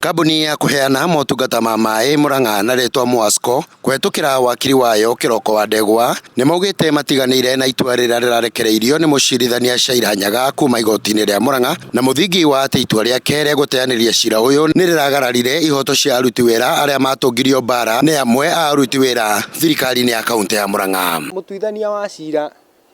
Kambuni ya kũheana motungata ma maĩ Murang'a na rĩtwa Muasco kũhetũkĩra wakiri wayo Kĩroko wa Ndegwa nĩmaugĩte matiganĩire na itua rĩrĩa rĩrarekereirio nĩ mũcirithania Shaira Nyaga kuma igotinĩ rĩa Murang'a na mũthingi wa atĩ itua rĩake rĩa gũteanĩria cira ũyũ nĩrĩragararire ihoto cia aruti wĩra arĩa matũngirio mbara nĩ amwe a aruti wĩra thirikarinĩ ya kauntĩ ya Murang'a. Mũtuithania wa cira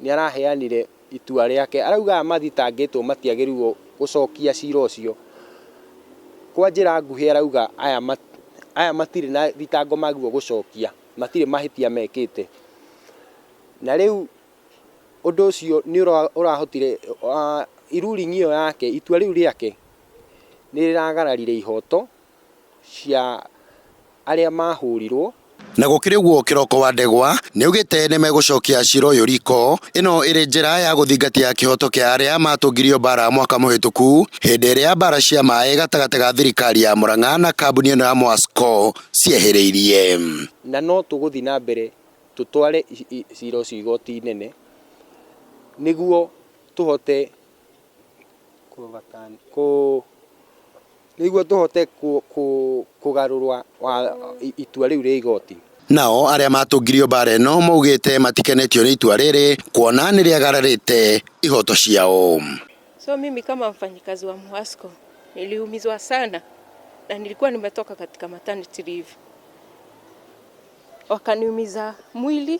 nĩaraheanire itua rĩake. Arauga aya mathitangĩtwo matiagĩrĩirwo gũcokia cira ũcio. Kwa njĩra nguhĩ arauga aya aya matirĩ na thitango magĩrĩirwo gũcokia, matirĩ mahĩtia mekĩte. Na rĩu ũndũ ũcio nĩũrahotire ruling ĩyo yake, itua rĩu rĩake nĩrĩragararire ihoto cia arĩa mahũrirwo. Na gũkĩrĩ ũguo kĩroko wa ndegwa nĩaugĩte nĩmegũcokia cira ũyũ riko, ĩno ĩrĩ njĩra ya gũthingatia kĩhoto kĩa arĩa matũngirio mbara mwaka mũhĩtũku hĩndĩ ĩrĩa mbara cia maĩ gatagatĩ ga thirikari ya Murang'a na kambuni ĩno ya Mwasco ciehĩrĩirie. Na no tũgũthiĩ na mbere tũtware cira ũcio igoti inene nĩguo tũhote kũ overturn, kũ... Nĩguo tũhote kũgarũrũa itua rĩu rĩa igoti. Nao arĩa matũngirio mbaara ĩno maugĩte matikenetio nĩ itua rĩrĩ kuona nĩrĩagararĩte ihoto ciao. So mimi kama mfanyikazi wa Muasco niliumizwa sana na nilikuwa nimetoka katika maternity leave wakaniumiza mwili.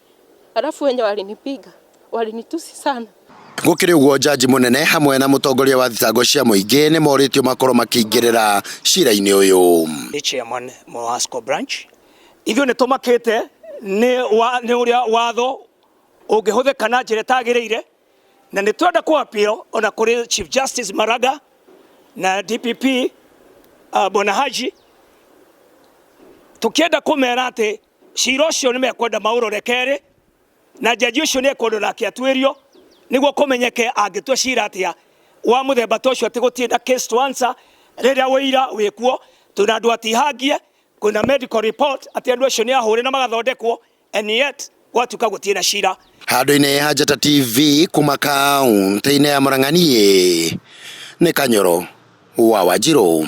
Alafu wenye walinipiga walinitusi sana. Gũkĩrĩ ũguo njanji mũnene hamwe na mũtongoria wa thitango cia mũingĩ nĩ morĩtio makorwo makĩingĩrĩra cira-inĩ ũyũ. Nĩ chairman Mowasco branch. Ithuĩ nĩ tũmakĩte nĩ ũrĩa watho ũngĩhũthĩka na njĩra ĩtagĩrĩire na nĩ twenda kũ appeal ona kũrĩ Chief Justice Maraga na DPP uh, Bwana Haji tũkĩenda kũmera atĩ cira ũcio nĩ mekwenda maũrore kerĩ na jaji ũcio nĩ ekwendwo nake atuĩrio nĩguo kũmenyeke angĩtua cira atĩa wa mũthemba ta ũcio atĩ gũtirĩ na case to answer rĩrĩa ũira wĩkuo twĩna andũ atihangie kwĩna medical report atĩ andũ acio nĩ ahũre na magathondekwo and yet gwatuĩka gũtirĩ na cira handũ-inĩ ha Njata TV kuma kaunti-inĩ ya Murang'a niĩ nĩ Kanyoro wa Wanjirũ